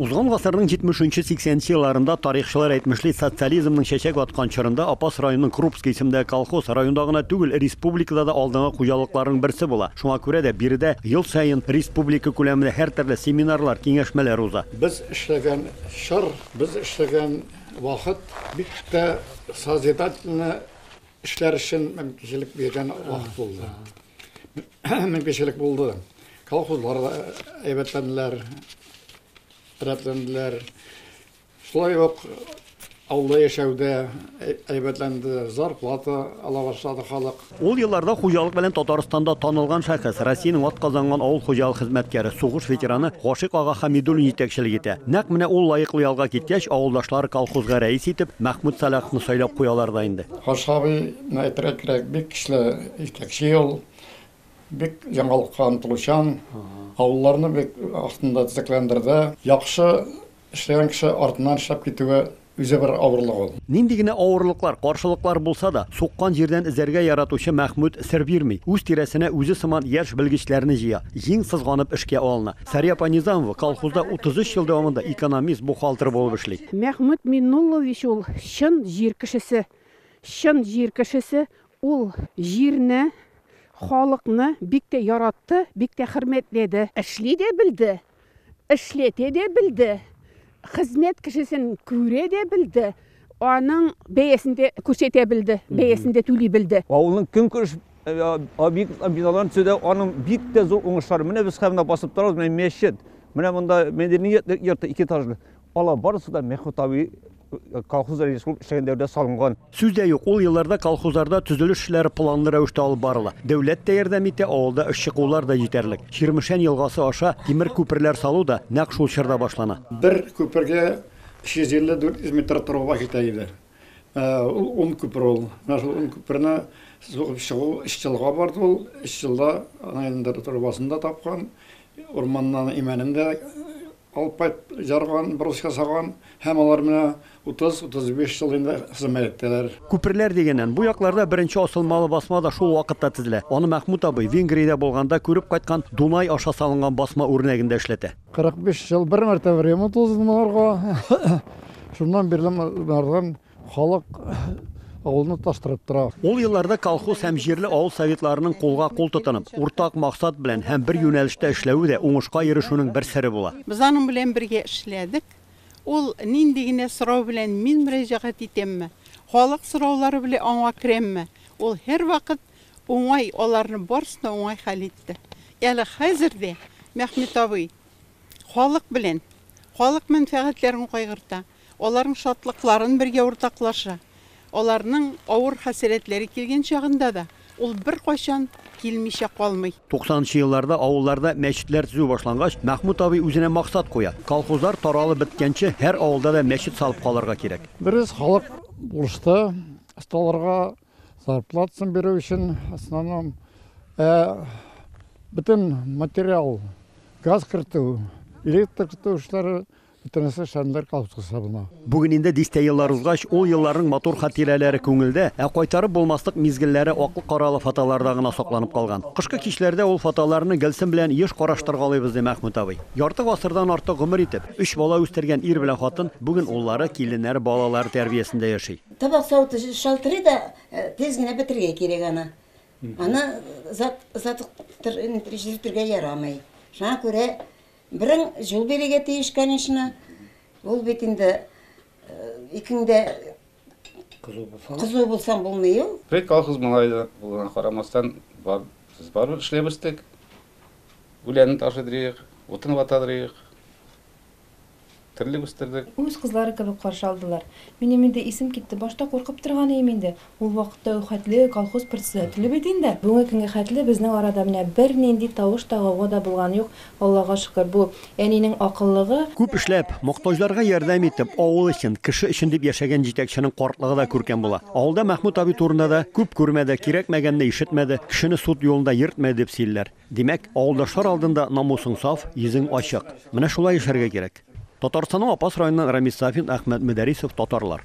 Узган гасырның җитмешенче, сиксәненче елларында, тарихчылар әйтмешли, социализмның чәчәк аткан чорында, Апас районының Крупский исемендәге колхоз, районда гына түгел, республикада да алдынгы хуҗалыкларның берсе була. Шуңа күрә дә биредә ел саен республика күләмендә һәртөрле семинарлар, киңәшмәләр уза. Без эшләгән чор, без эшләгән вакыт бик тә созидательный эшләр өчен мөмкинчелек биргән вакыт булды. мөмкинчелек булды. Колхозлар да әйбәтләнделәр, рәтләнделәр. Шулай ук авылда яшәүдә әйбәтләнде, зарплата ала башлады халык. Ул елларда хуҗалык белән Татарстанда танылган шәхес, Россиянең атказанган авыл хуҗалык хезмәткәре, сугыш ветераны Гашыйк ага Хәмидуллин җитәкчелек итә. Нәкъ менә ул лаеклы ялга киткәч, авылдашлары колхозга рәис итеп Мәхмүт Сәлаховны сайлап куялар да инде. Гашыйк абыйны әйтергә кирәк, бик көчле. Җитәкче ул бик яңалыкка омтылучан, авылларны бик вакытында төзекләндерде. Яхшы эшләгән кеше артыннан эшләп китүе үзе бер авырлык ул. Нинди генә авырлыклар, каршылыклар булса да, суккан җирдән эзәргә яратучы Мәхмүт сер бирми, үз тирәсенә үзе сыман яшь белгечләрне җыя, җиң сызганып эшкә алына. Сәрия апа Низамова колхозда 33 ел дәвамында экономист, бухгалтер булып эшли. Мәхмүт Миннуллович ул, чын җир кешесе. Чын җир кешесе, Ул җирне, халыкны бик тә яратты, бик тә хөрмәтләде. Эшли дә белде, эшләтә дә белде, хезмәт кешесен күрә дә белде, аның бәясен дә күрсәтә белде, бәясен дә түли белде. Авылның көнкүреш объектларын, биналарын төзүдә аның бик тә зур уңышлары. Менә без хәзер монда басып торабыз, менә мәчет, менә монда мәдәният йорты икетажлы. Алар барысы да Мехутави колхозда рәис булып эшләгән дәвердә салынган. Сүз дә юк, ул елларда колхозларда төзелеш эшләре планлы рәвештә алып барыла. Дәүләт тә ярдәм итә, авылда эшче куллар да җитәрлек. Чирмешән елгасы аша тимер күперләр салу да нәкъ шул чорда башлана. Бер күпергә 350-400 метр труба китә иде. Ул ун күпер ул. Менә шул ун күперне сугып чыгу өч елга барды ул. Өч елда аны инде трубасын да тапкан, урманнан имәнен дә Алып кайт, ярган, брус ясаган һәм алар менә 30-35 ел инде хезмәттәләр. Күперләр дигәннән, бу якларда беренче асылмалы басма да шул вакытта тезелә. Аны Мәхмүт абый, Венгриядә булганда күреп кайткан Дунай аша салынган басма үрнәгендә эшләтә. 45 ел бер мәртәбә ремонт узды монарга. Шуннан бирле монардан Халык авылны тоташтырып тора. Ул елларда колхоз һәм җирле авыл советларының кулга-кул тотынып, уртак максат белән һәм бер юнәлештә эшләве дә уңышка ирешүнең бер сере була. Без аның белән бергә эшләдек. Ул нинди генә сорау белән мин мөрәҗәгать итәмме, халык сораулары белән аңа керәмме, ул һәрвакыт уңай аларны барысын да уңай хәл итте. Әле хәзер дә Мәхмүт абый халык белән, халык мәнфәгатьләрен кайгырта. Аларның шатлыкларын бергә уртаклаша. Аларның авыр хәсрәтләре килгән чагында да ул беркайчан килмичә калмый. Туксанынчы елларда авылларда мәчетләр төзү башлангач, Мәхмүт абый үзенә максат куя, колхозлар таралып беткәнче, һәр авылда да мәчет салып калырга кирәк. Дөрес, халык булышты, осталарга зарплатасын бирү өчен, основном, ә бөтен материал, газ кертү, электр кертү эшләре Бөтенесе шәмдәр колхозга менә. Бүген инде дистә еллар узгач, ул елларның матур хатирәләре күңелдә, ә кайтарып булмаслык мизгелләре аклы-каралы фотоларда гына сакланып калган. Кышкы кичләрдә ул фотоларны Гөлсем белән еш караштыргалыйбыз, ди Мәхмүт абый. Ярты гасырдан артык гомер итеп, өч бала үстергән ир белән хатын бүген уллары, киленнәре, балалары тәрбиясендә яши. Табак савыты шалтырый да, тиз генә бетергә кирәк аны. Аны озак озатып тор, җилтергә ярамый. Шуңа күрә Берең җул бирегә тиеш, конечно. Ул бит инде икеңдә кызу булсаң булмый ул. Без колхоз малае булуына карамастан, бар, без барыбер эшләп үстек. Үләнен ташыдырыйк, утын ватадырыйк. Терлек үстердек. Үз кызлары кебек каршы алдылар. Минем инде исем китте. Башта куркып торган идем инде. Ул вакытта үк хәтле колхоз председателе бит инде. Бүгенге көнгә хәтле безнең арада менә бернинди тавыш та, гауга да булган юк, Аллага шөкер. Бу, әнинең акыллыгы. Күп эшләп, мохтаҗларга ярдәм итеп, авыл өчен, кеше өчен дип яшәгән җитәкченең картлыгы да күркәм була. Авылда Мәхмүт абый турында да, Күп күрмәде, кирәкмәгәнне ишетмәде, кешене суд юлында йөртмәде, дип сөйлиләр. Димәк, авылдашлар алдында намусың саф, йөзең ачык. Менә шулай яшәргә кирәк. Татарстанның Апас районыннан Рамис Сафин, Әхмәт Мөдәрисов, Татарлар.